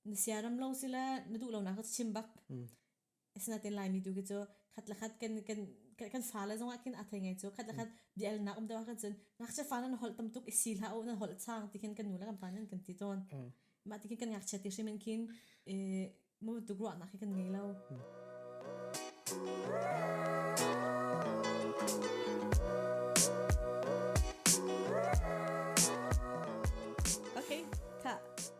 Na sia ram lo si le na duh lonak ka chim bak. Asinain Laimi tu khi cu khat le khat kan kan kan fa le zongah khin a thei ngai cu khat le khat bia el nak um deuh khan cun ngakchia fa nan holh tam tuk i si hlah u nan holh chang ti khin kan nu le kan pa nan kan ti tawn mah ti khin kan ngakchia ti hrim in khin mu tuk ruah nak hi kan ngei lo Okay, ta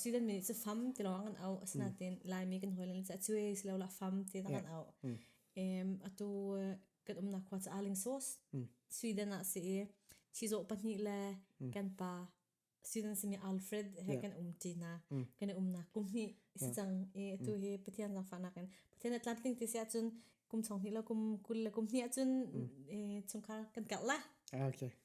Student mi nih cu fam ti lawng an auh. Asinain Laimi kan hawi le nih cuai si lo la fam ti tang an auh. Atu kan umnak khua cu Arling Source Sweden ah si i chizawh pahnih le kan pa student simi Alfred he kan um ṭi hna. Kan i umnak kum hnih si cang i atu hi Pathian zangfahnak in Pathian a tlamtling ti si ahcun kum chung hnih le kum kul le kum hnih ahcun chungkhar kan karh la.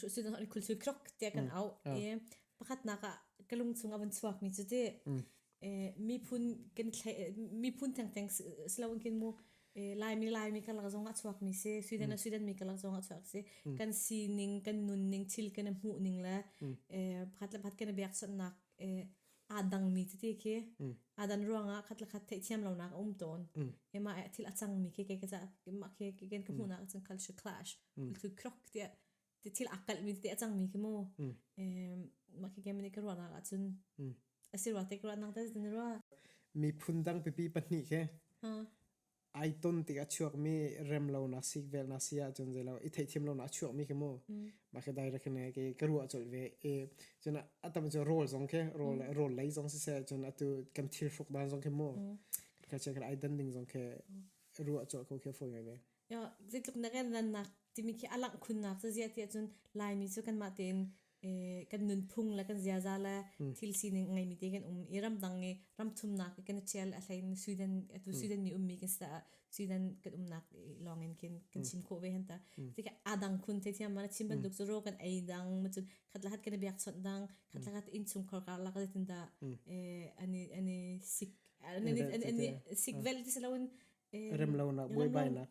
so sin ni khul chu krok te kan au e pakhat nak a ka lung chung a van chuak mi chu ti e mi phun kan thle mi phun theng theng slogan kin mu laimi laimi kalar zong a chuak mi se sweden a sweden mi kalar zong a chuak se kan sining kan nun ning thil kan mu ning le pakhat le pakhat kan bek son nak aa dangmi tete khi aa dan ruangah khat le khat theihthiam lonak a um tawn ema ah thil a cangmi khi keke ca mah khi keken ka hmuhnak cun kal shi clash kul thu khrok ti ti thil aa kalhmi tete a cangmi khi mu mah khi kemani ka ruahnak ah cun a si rua te ka ruahnak te tin rua miphun dang pipi pahnih khi ai ton tik a chuakmi remlonak sik velnak si ahcun zei lo i theihthiam lonak a chuakmi khi mu mah khi direct ne ke ka ruah cawlh ve e cun a tam cu rol zong ke rol rol lei zong si se cun atu kan thil hruk dan zong khi mu ka che kan ai dan ding zong ke ruah cawlh ko khi foi ngai ve yo zeitluk na kan rannak timi khi alak khunnak ca zia ti ahcun laimi cu kanmah tein kan nunphung le kan ziaza le thil sining ngeimi te kan um i ramdang i ramthumnak kan i ṭial a hlein Sweden atu Sweden mi ummi kan si caah Sweden kan umnak lawngin kin kan chim khawh ve han ta tika adang khun theithiam mana chim bantuk cu ro kan ei dang macun khatlahat kan i biak chawnh dang khatlahat innchungkhar karlak zetin dah ani ani sik ani sik vel ti saloin remlonak buai bai lak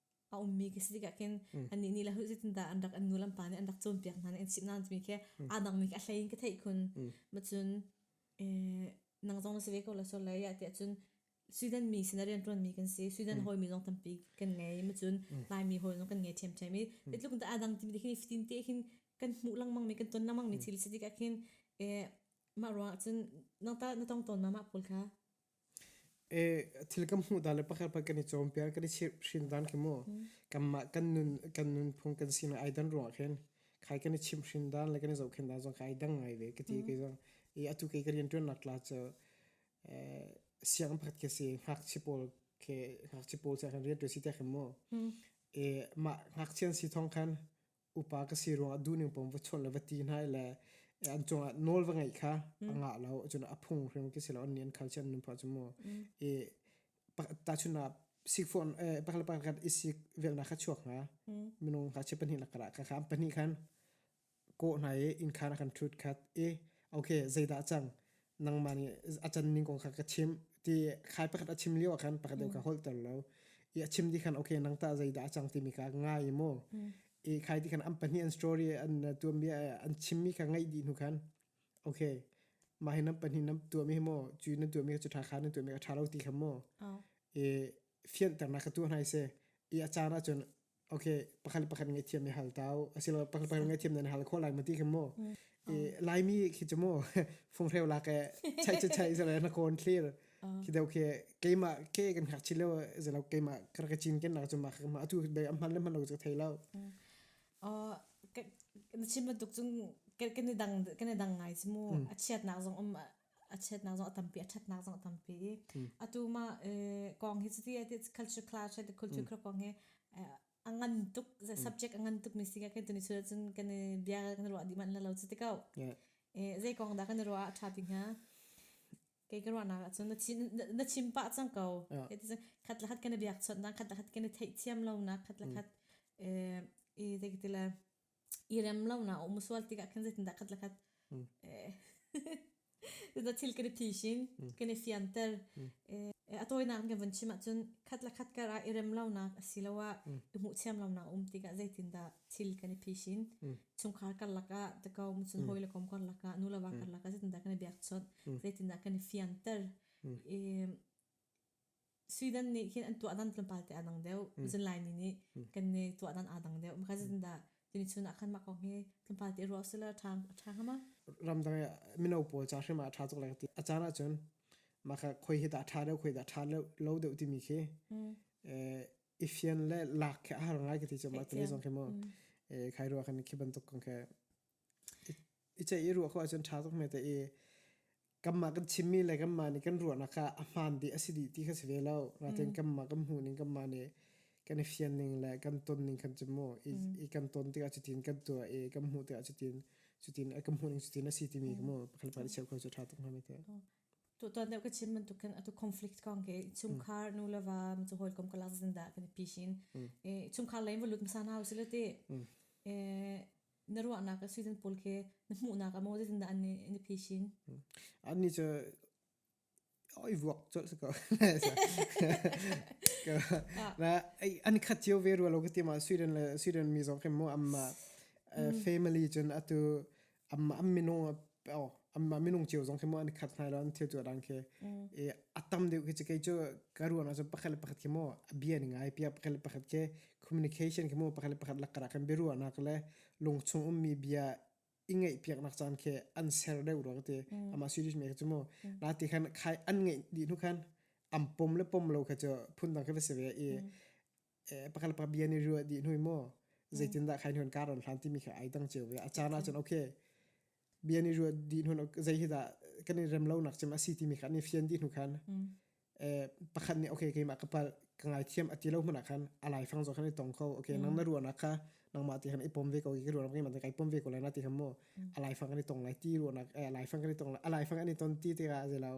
a ummi ka si tikah khin annih nih lahu zeitindah an rak an nu lampa nih an rak cawnpiak hna nih an chimh hna timi khi aa dangmi khi a hlei in ka theih khun ma cun nang zong na si ve ko la sol lai tiah cun Sweden mi sin a rian ṭuanmi kan si Sweden hawimi zong tampi kan ngei ma cun Laimi hawi zong kan ngei ṭhiamṭhiam i bitluk da aa dang timi khi fatin te khin kan hmuh lengmang mi kan ton lengmang mi thil si tikah khin mah ruangah cun nang ta na tong tawn ma mah pawl kha thil kan hmuh dan le pakhat pakhat kan i cawnpiak, kan i chimhhrin dan khi mu. Kanmah kan nun, kan nunphung kan sinak ai dan ruah khin khai kan i chimhhrin dan le kan i zohkhenh dan zong kha ai dang ngai ve ka ti. Kei zong i atu kei ka rianṭuannak tla cu sianginn pakhat khi a si. Ngakchia pawl khi, ngakchia pawl nih rianṭuan si tiah khin mu. Mah ngakchia an si thawng khan upa ka si ruangah duhning pom va chawnh le va ti hna le an cungah nawl va ngeih kha a ngah lo cun a phung hrim ki si lo an nian khal si an nunpa cu mu i ta chuna sikfon pakal pakhat isi velna kha chuak nga minung ka che pahnih lakara ka kham pahnih khan ko hna i in khan kan thut khat i okay zeidah cang nangmah nih a can ning kong kha ka chim ti khai pakhat a chim lio ah khan pakhat deu ka holter lo i a chim ti khan okay nang ta zeidah a cang timi kha ngai i maw i khai ti khan an pahnih an story an tuanbia an chimmi kha ngaih dih hnu khan okay mah hi nam pahnih nam tuami hi maw cu na tuami kha cu tha kha na tuami kha tha lo ti kha maw i fianternak ka tu hna i se i a caan ahcun okay pakhat le pakhat ngaihthiam i hal tau asilo pakhat le pakhat ngaihthiam nan hal kho lai ma ti kha mu i laimi khi chu mu fung hreu la ke chai chai chai zala na kon thlir khi dau ke keima ke kan hak chilo zalo keima kar ka chin ken na chu ma ma atu be am man le man lo chu thailo o na chim na tuk chung ke ke ni dang ke ni dang ngai chi mu a chiat nak zong um a chiatnak zong a tampi a ṭhatnak zong a tampi i atu ma kong hi cuti ati culture clash le culture kra kong hi a ngan tuk subject a ngan tuk mi si ka kan tuni chura cun kan bia kan ruah dih man la lo cu tikau zei kong dah kan ruah a ṭha ti hnga kei ka ruahnak ah cun na chim pah cang ko khat la khat kan biak chawt na khat la khat kan i theih thiam lo na khat la khat i zei ka ti la i rem lonak a um sual tikah khan zeitindah khat le khat eh, na thil kan i phishin kan i fianter a tawinak kan van chim ahcun khat le khat kar ah i rem lonak asiloah i hmuh thiam lonak a um tikah zeitindah thil kan i phishin chungkhar karlak ah the kom cun hawi le kom karlak ah nu le va karlak ah zeitindah kan i biakchawnh zeitindah kan i fianter Sweden nih hin an tuahdan tlawmpal te a dang deuh. Mm. Zun Laini nih mm. kan ne tuahdan a dang deuh. Maka zin da tuni chun ah khan mak ko he tlawmpal te ro sila tha tha hama. Ramdang mino pawl cha hrima tha tuk lai ti. A chan achun maka khoi hi da tha deuh khoi da tha lo deuh ti mi khi. Ifian le lak ke har ngai ke ti chama tuni zong khi mo. Khai ruwa kan khi bantuk kong ke. Ice i ruwa ko achun tha tuk me te i kanmah kan chimmi le kanmah nih kan ruahnak ah a hmaan bik a si dih ti kha si ve lo. Nain mm. kanmah kan hmuh ning kanmah nih kan i fian ning le kan ton ning kan cu mu. I, mm. i kan ton tikah cutin kan tuah i kan hmuh tikah cutin cutin kan hmuh ning cutin a si timi ka mu. Pakhat pakhat i cheu kho cu ṭha tuk hna mai te. To to ne ka chim man tu kan atu conflict kong ke chungkhar nu lava mi chu hol kom ka lak zin da kan pishin e chungkhar lein volut msa na usile te e na ruahnak accident pawl khi na hmuhnak ah maw zeitindah an na phishin an ni cu oi vuak col sa ko na an khat cio ve rualo ka tima Sweden le Sweden mi zong khi mu amma family cun atu amma am minu amma minung cio zong khi mo an khat hnai lo an thil chu dang khi e atam deuh khi chi kei chu ka ruang chu pakhat le pakhat khi mo bia ni ngai pia pakhat le pakhat ke communication khi mo pakhat le pakhat lakara kan bi ruwa nak le lungchung um mi bia ingei piak nak chan khi an ser deuh ro te ama series me chu mo na ti khan khai an ngei di nu khan am pom le pom lo kha chu phun dang khi va se ve e pakhat le pakhat bia nih ruah dih hnui maw zeitindah khai nuan karon hlan timi kha ai dang ceu ve a caan ahcun okay bia nih ruah dih hnun zei hi dah kan i rem lo nak cim asi timi kha ni fian dih hnu khan pakhat nih okay keimah ka pal ka ngai thiam ati lo hmuna khan alai fang zo khan i tong kho okay nang na ruah nak kha nang ma ti ham i pom ve ko ki ruah ngai man kai pom ve ko la na ti ham mo alai fang ni tong lai ti ruah nak alai fang ni tong alai fang ani ton ti te ga zelau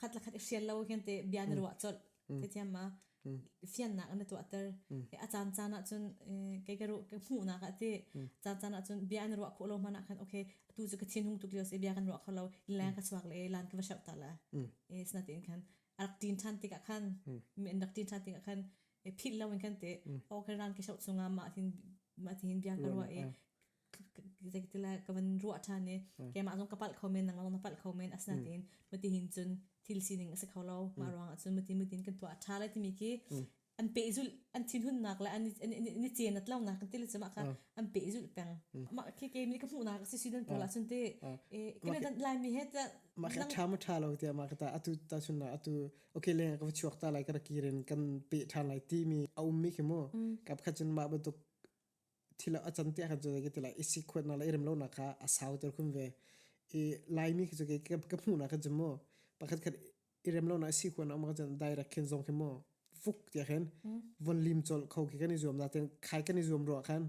khat le khat i hrial lo hin te bia na ruah colh te thiam ma fiannak na tuahter a caan caan ah cun kei ka ruh ka hmuhnak ah ti caan caan ah cun bia na ruah khawh lo hman ah khan okay atu cu ka thin hung tuk lio si bia kan ruah kho lo leng ka chuak le lan ka va shau ta la e sna tin khan arak tin than tik ah khan men rak tin than tik ah khan phil lo in khan te o ka ran ke shau chunga ma thin ma thin bia ka ruah e zeitilah ka van ruah ṭhan i keimah zong ka palh kho men nangmah zong na palh kho men asinain mati hin cun thil sining a si kho lo mah ruangah cun mati mutin kan tuah ṭha lai timi khi an pehzulh an thinhunnak le an an i cenat lonak kan tile cumah khan an pehzulh peng mah khi keimi ka hmuhnak si sudan pula cun te kame kan laimi he ta mah kha ṭha ma ṭha lo tia mah ka ta atu ta chun na atu okay le ka chuak ta lai ka kirin kan pe ṭhan lai timi a ummi khi mu kap kha cun mah batuk thil a can te khan cu ka ti lai i si khuat na la i rem lo na kha a sau ter khum ve i laimi khi cu ka hmuh na khan cu mu pakhat khat i rem lo na si khuat na um khan direct khin zong khi mu vuk tia khin von lim chol kho khi kan i zuam na ten khai kan i zuam ro khan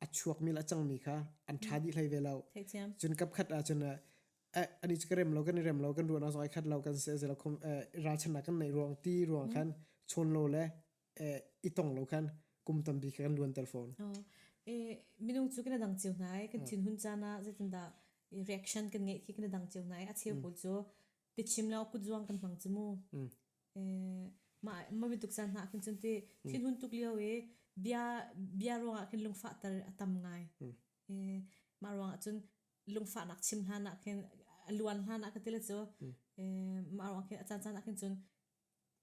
a chuak mi la cang mi kha an tha di hlei ve lo cun kap khat a cun ani chu ka rem lo kan i rem lo kan ruana zoi khat lo kan se zelo khum ral chan na kan nei ruang ti ruang khan chon lo le i tong lo khan kum tampi kha kan luanter fawn. Oh, e minung cu kana dang cio nai kan thin hun cana zetinda reaction kan ngei khi kana dang cio nai a cheu pawl cu pichim lo kut zuang kan hmang chumu. E ma ma bituk san na kan chunti thin hun tuk lio e bia bia ruang ah kan lungfa tar atam ngai. E ma ruang ah cun lungfa nak chim hna na kan luan hna na ka tila cu ma ruang kan acan cana kan cun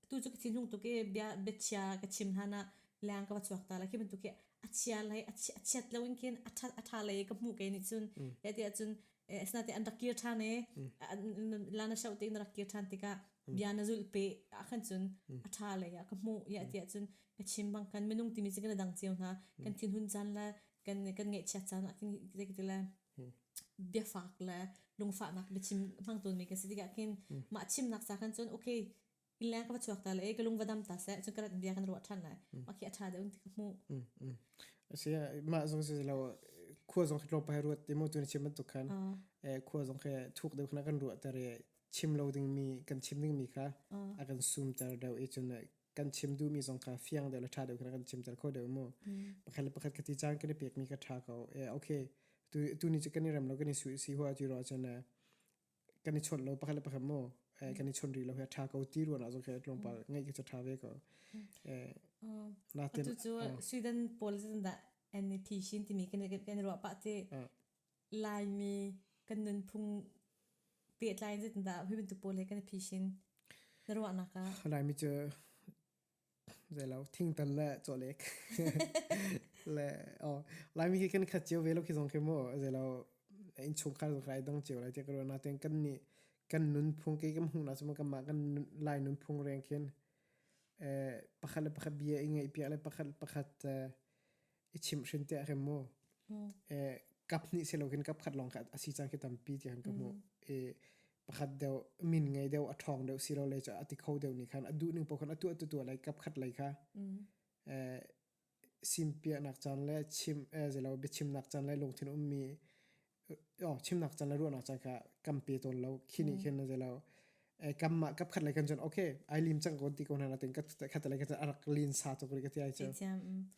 Tu cu ka thinlung tuk i bia biachia ka chim hlan ah leng ka va chuak ta la khi bantuk hi a chia lai a chia- a chiat lo in khin a ṭha a ṭha lei ka hmuh kei nih cun he ti ahcun eh, asinain an rak kir ṭhan i an- la na shoh tiin a rak kir ṭhan tikah bia na zulh pe ahkhan cun a ṭha lei ah ka hmuh iah ti ahcun ka chim bang kan minung timi cu kan i dang cio hna kan thinhun caan le kan kan ngaihchiat caan ah khin zei ka ti lai. biafak le lungfahnak biachim hmang tawnmi kan si tikah khin mah chimnak sa khan cun okay leng ka va chuak ta le e ka lung va dam ta se cun ka rat bia kan ruah than lai ma khi a tha deuh ti ka hmu asi mah zong si lo khua zong khi lo pai ruat ti mu tu ni chim bantuk khan khua zong khi thuk deuh khna kan ruah tar i chim lo ding mi kan chim ding mi kha a kan sum tar deuh i cun kan chim duhmi zong kha fiang deuh le ṭha deuh kha kan chimter kho deuh mu pakhat le pakhat khati caan kan i pekmi ka ṭha ko e okay tu tu ni cu kan i rem lo kan i su si hua tu ro chan e kan i chon lo pakhat le pakhat mo e kan i chon ri lo he ṭha ko ti ruan azong khe tlawm pal ngai ke ṭha ve ko e na ten atu cu sweden pol zin da NEP shin timi kan kan ruwa pa te Laimi kan nunphung pehtlai in zeitindah hi bantuk pawl he kan i phishin na ruahnak ah? Laimi cu zeilo thingtan le chawlek le oh Laimi khi kan khat cio ve lo khi zong khi maw zeilo inchungkhar zong kai dong cio lai tiah ka ruah natin kan nih kan nunphung ke kan hmuh na cuma kanmah kan lai nunphung reng khin eh pakhat le pakhat bia i ngaih piak le pakhat le pakhat eh i chimhrin te a rem maw e kap hnih si lokin kap khat lawng kha a si cang khi tampi tiang ka hmu e pakhat deu min ngei deu a ṭhawng deu si lo le a ti kho deu ni khan a duh ning po khan a tuah tu tua lai kap khat lai kha e sim piak nak chan le chim e zelo biachim nak chan le lungthin ummi chimnak can le ruahnak can kha kam pe tawn lo khi ni khin na zelo kam ma kap khat lai kan chon okay ai lim chang ko ti ko na tin kat khat lai kan arak lin sa to kri ka ti ai chon ki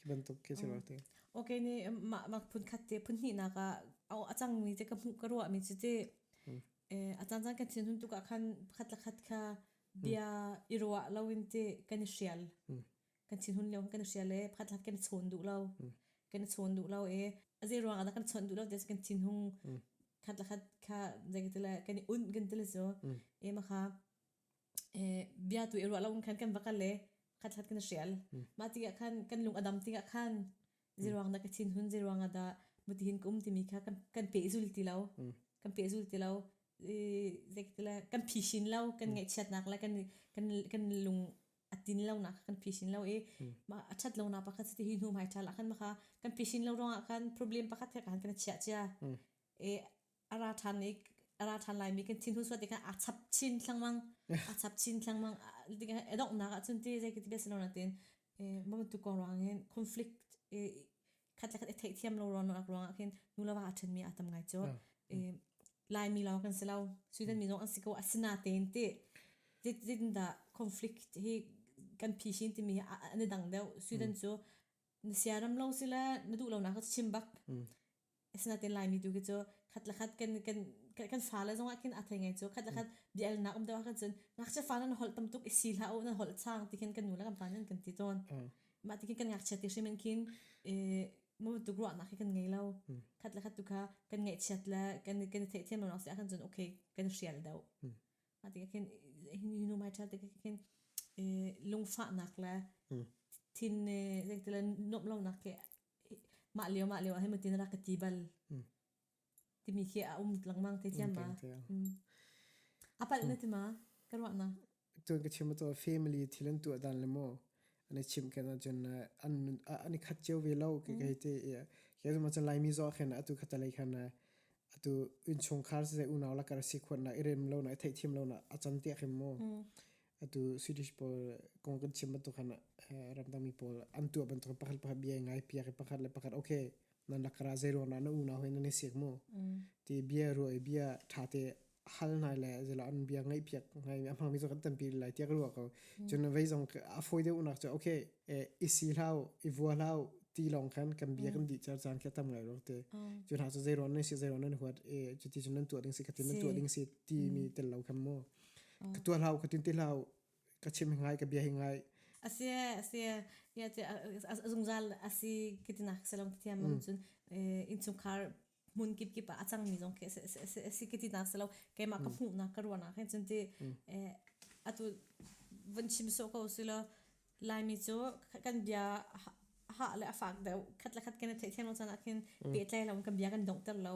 ban to ke chelo te okay ni ma phun khat te phun ni na ka au achang mi te ka mu ka ruwa mi te achan chan kan chin hun tu ka khan khat la khat kha bia irwa lawin te kan shial kan thin hun lio kan hria le phat la kan chawn duh lo kan chawn duh lo e a zei ruang ah kan chawn duh lo ti kan thin hung khat la khat kha zeng te le kan un kan te le so e ma kha e bia tu e ro lo khan kan bakal le khat khat kan hrial ma ti ga khan kan lung adam ti ga khan zai ruang da ka thin hun zai ruang da muti hin kum ti mi kha kan kan pe zul ti lo kan pe zul ti lo zai te le kan phi shin lo kan ngai chiat nak le kan kan lung a tin lo na kan phisin lo i ma a that lo na pakhat ti hi hnu mai tha la khan ma kha kan phisin lo rong ah khan problem pakhat thek khan kan chia chia e ara than ni ara than lai mi kan thin hu suat kan a chap chin thlangmang a chap chin thlangmang ding edok na ka chun ti zai ki ti besalona tin e mam tu ko rangin conflict e khat le khat i theihthiam lo ruangah ruangah khin nu le va a ṭhenmi aa tam ngai cu laimi lawng kan si lo sweden mi zong an si ko asina tein ti zitindah conflict hi kan phishin timi hi an i dang deuh sweden cu na siaram lo sila na duh lonak cu chim bak asinain laimi tu khi cu khat le khat kan kan kan fale zongah khin a thei ngai cu khat le khat bialnak um deuh ah khan cun ngakchia fale na holh tam tuk i si hlah u nan holh sang ti khin kan nu le kan pa nih an kan ti tawn mah ti kan ngakchia ti hrim in kin e mo tu ruah nak hi kan ngei lo khat la khat tu kha kan ngai chiat la kan kan the thiam lo se kan zun okay kan hrial do mah ti kan you know my child ti kan lungfa nak la thin zek tila nom lo nak ke ma leo ma leo he mo tin ra ka ti bal timi khi a um lengmang te thiam ma a palh na ti ma ka ruahna cun ka chim to family thil an tuah dan le mo an chim ken a cun an ani khat cheu ve lo ke ke te ke ma chan lai mi zo khen atu khata lai khan atu in chung khar se unaw la kar si khon na irem lo na thei thim lo na acham te khem mo atu swedish pol kong kan chim to khan ram dang mi pol an tu ban to pakhat pakhat bia ngai pia ke pakhat le pakhat okay nan rak ra zei ruang na na unau hin nan i siak mu ti bia ruai bia tha te hal nai le zelo an bia ngai piak ngai mi amang mi zo kan tampi lai tiak ruwa ko chun vei zong a foi deu nak cha okay i si hlau i vua hlau ti long khan kan bia kan di char chan ke tam ngai rok te chun ha so zei ron nan si zei ron nan huat e chu ti chun nan tu ding si ka tin nan tu ding si ti mi tel lo kham mo ka tu hlau ka tin ti hlau ka chim hi ngai ka bia hi ngai asi asi ya che zungzal asi kitina selong thiam mam chun insungkhar mun kip kip a chang mi zong ke se se se kitina selo keima ka phu na ka ruana khen chun ti atu van chim so ko silo lai mi chu kan bia ha le afak deu khat la khat kene thei theng lo chana khin pe tlai lo kan bia kan dong ter lo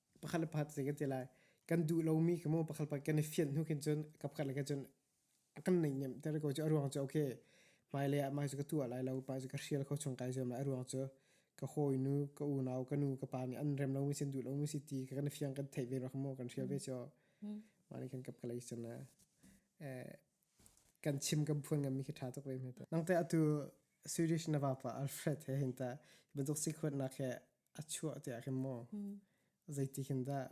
pakhat le pakhat se kan ti lai kan duh lomi ka mo pakhat pakhat kan i fian hnu khin cun kapkhat le cun kan nei nem tere ko cu aruang cu okay mai le ah mai cu ka tu lai lo pa cu ka hrial kho chung kai zuam lai aruang cu ka hoi nu ka unau ka nu ka pa nih an rem lomi sin duh lomi si ti ka kan fiang kan theih ve rak mo kan hrial ve cho ma ni kan kap kalai cun eh kan chim kan phuan ngam mi khi tha tuk ve me ta nang te atu swedish na va pa alfred he hinta bantuk si khot na khe a chuah te ah khin maw zeitik hin dah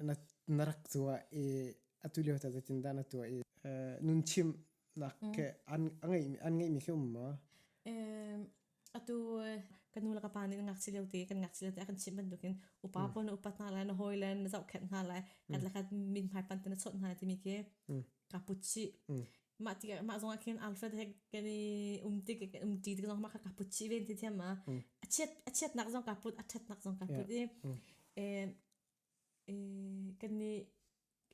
na na rak zuwa i atu lio ta zeitin dah na tuah i nun chim nak ke an ngeih an ngeih mi khi um maw atu kan nu le ka pa nih ngak si leo te kan ngak si leo te kan chim bantuk in upa pon upat hna lai na hawi le na zoh khet hna lai kan la kan min hmai pan te na chawt hna timi ke ka puchi mah ti mah zong ah khin Alfred he kan i um ti kan um ti zong mah ka put chi ven ti thiam ma a chiat a chiat nak zong ka put a that nak zong ka put i and kan ni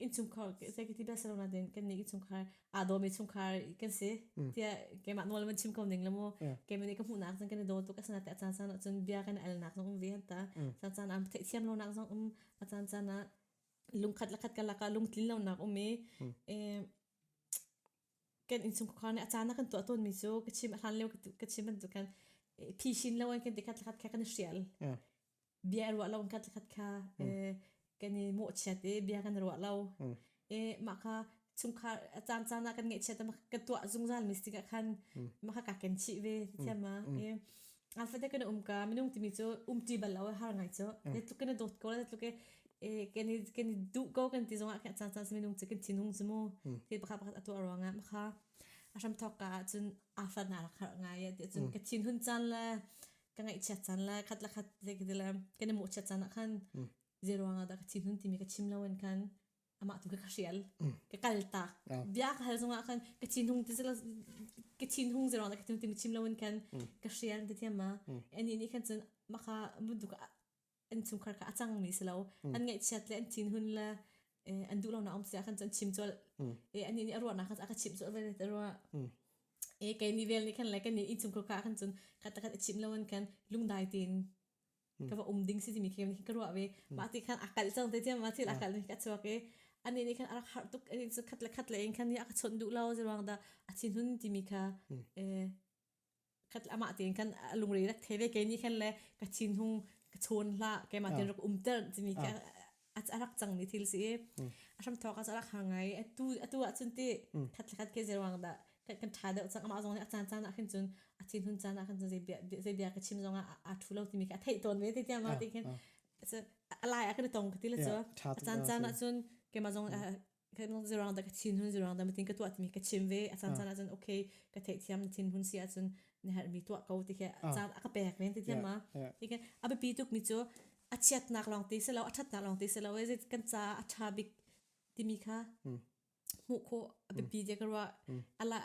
in chungkhar sai ki ti bel salona den kan ni in chungkhar a do me chungkhar kan se tia ke ma nol man chim ko ning lamo ke mene ka mu nak zong kan do to ka sana ta chan sana chun bia kan al nak zong um ve ta chan chan am thei thiam lo nak zong um a chan chan na lungkhat lakhat ka laka lungtlin lo nak um e kan innsungkhawkhar nih a caan a kan tuah tawnmi cu ka chim a hlan lio ka chim bantukin phishin lo in kan ti khat lakhat kha kan i hrial. Bia i ruah lo in khat lakhat kha kan i mawhchiat i bia kan ruah lo. mah kha chungkhar a caan caan ah kan ngaihchiat a kan tuah zungzalmi si tikah khan mah kha kaa ken chih ve. Ti thiam ma? A fate kan um ka minung timi cu umti bal lo har ngai cu. Ne tluk kan dawt ko ne tluk e kan i kan i du ko kan ti zong ah kan chan chan se minung cu kan thinung zu mu. Ti pakhat pakhat atu arwang ah makha a hram thok ka cun afar na rak har ngai ya ti cun ka thin hun chan le ka ngai chiat chan le khat la khat le khat le kan i mo chiat chan ah khan zero nga da ka thin hun timi ka chim lo an kan amah tu ka hrial ka kaltak bia ka hal zungah khan ka thinhung ti ka thinhung zero la ka thinhung ti mi chim lo in kan ka hrial ti thiama ani ni khan cun maka buduk an chungkhar ka acang mi silo an ngaihchiat le an thinhun le an duh lo na om sia khan cun chim chol e ani ni arwa na khan aka chim chol ve te rwa e ke ni vel ni khan le ke ni in chungkhar ka khan cun khat khat chim lo an kan lungdai tin ka va um ding si timi khi ka ruah ve mah ti khan a kalh cang te tiam ma thil a kalh ni ka chuak e ani ni khan a rak har tuk ani chu khat le khat le in khan ni a ka chon du lo ji ruang da a chin hun timi kha e khat ama te khan a lungre rak the ve ke ni khan le ka chin hung ka chon la ke ma tin rak um ter timi kha Ats a rak cangmi thil si i a hramthawk ah a rak har ngai atu atu ah cun ti thatlakhat ke zeruang dah kan tha deuh cang amah zong nih a caan caan ah khin cun a thin hun caan ah khin cun zei bia ka chim zong ah aa thu lo timi khi a theih tawn ve te tiang ah ti khin a lai a kan tong ka ti le cu a caan caan ah cun keimah zong zirang da ka chin hun zirang da matin ka tuah timi ka chim ve a chan chan ah cun okay ka thei thiam thin hun si ah cun ne har mi tuah ko ti ke chan a ka pek men ti thiam ma ti ke a bi tuk mi chu a chiat nak long ti se lo a that nak long ti se lo e kan cha a tha bik ti mi kha mu kho a bi je ka ro ala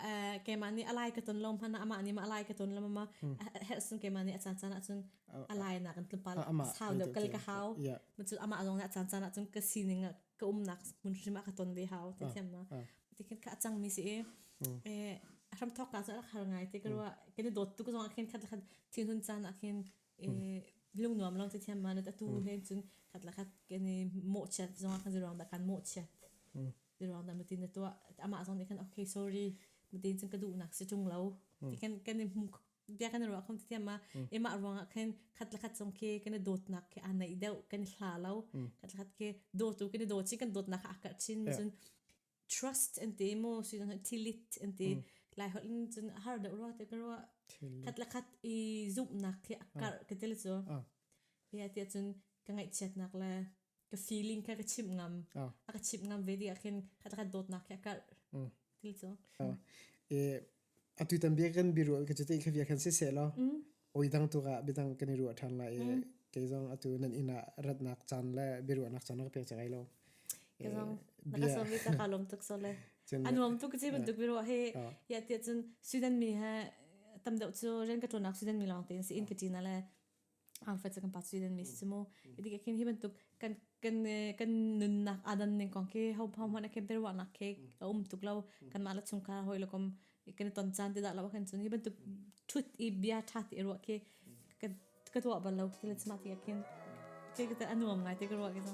ke ma ni alai ka ton lom hana ama ni ma alai ka ton lom ma her sun ke ma ni a chan chan ah cun alai na kan tlum pal sound kal ka hau ma chu ama long na chan chan ah cun ka sining ka umnak hmun hrim ah ka ton ve hau te thiam ma ti khin kha a cang mi si e a hram thok ka cun a har ngai te ka rua ke ne dot tu ko zong khin khat khat thing hun chan a khin lung nuam long te thiam ma nu ta tu hen cun khat la khat ke ne mo chat zong khan zirong da kan mo chat zirong da mutin to ama zong ne khan okay sorry mutin cun ka du nak si chung lo ti khin ke ne bia kan ruah khom ti tiama ema ruang ah khin khat la khat song khi kan dawt nak khi a nei deuh kan hla lo khat khat khi dawt tu kan dawt chi kan dawt nak ha akar chin ma cun trust an te mo si tilit an te lai hol in cun har deuh ro te karwa khat la khat i zum nak khi akar ka tel chu ya te cun ka ngai chiat nak le ka feeling kha ka chimp ngam oh. a ka chimp ngam ve ding khin khata kan dawtnak kha kal mm. til chu oh. e atu tan bia kan biru ka chu te kha bia kan se se lo mm. oi dang tu ga bidang kan ru than la e mm. ke zong atu nan ina ratnak chan le biru nak chan nak pe chagai lo ke zong na ka so mi ta ka lom tuk so le anuam tu ka chi ban tuk biru he ya te chun sudan mi ha tam dau chu ren ka tonak sudan mi long te si in katina le Angfet se kan pa student mi si mu. Idi ke khin hi bantuk kan kan kan nunnak adan ning kong khi ho pha hman kem ter wa nak ke um tuk lo kan ma la chung ka hoi lo kom kan ton chan ti da la kan chun hi bantuk thut i bia tha ti ro ke kan ka to bal lo ki le chma ti khin ke ka ta anuam ngai te ka ro ke so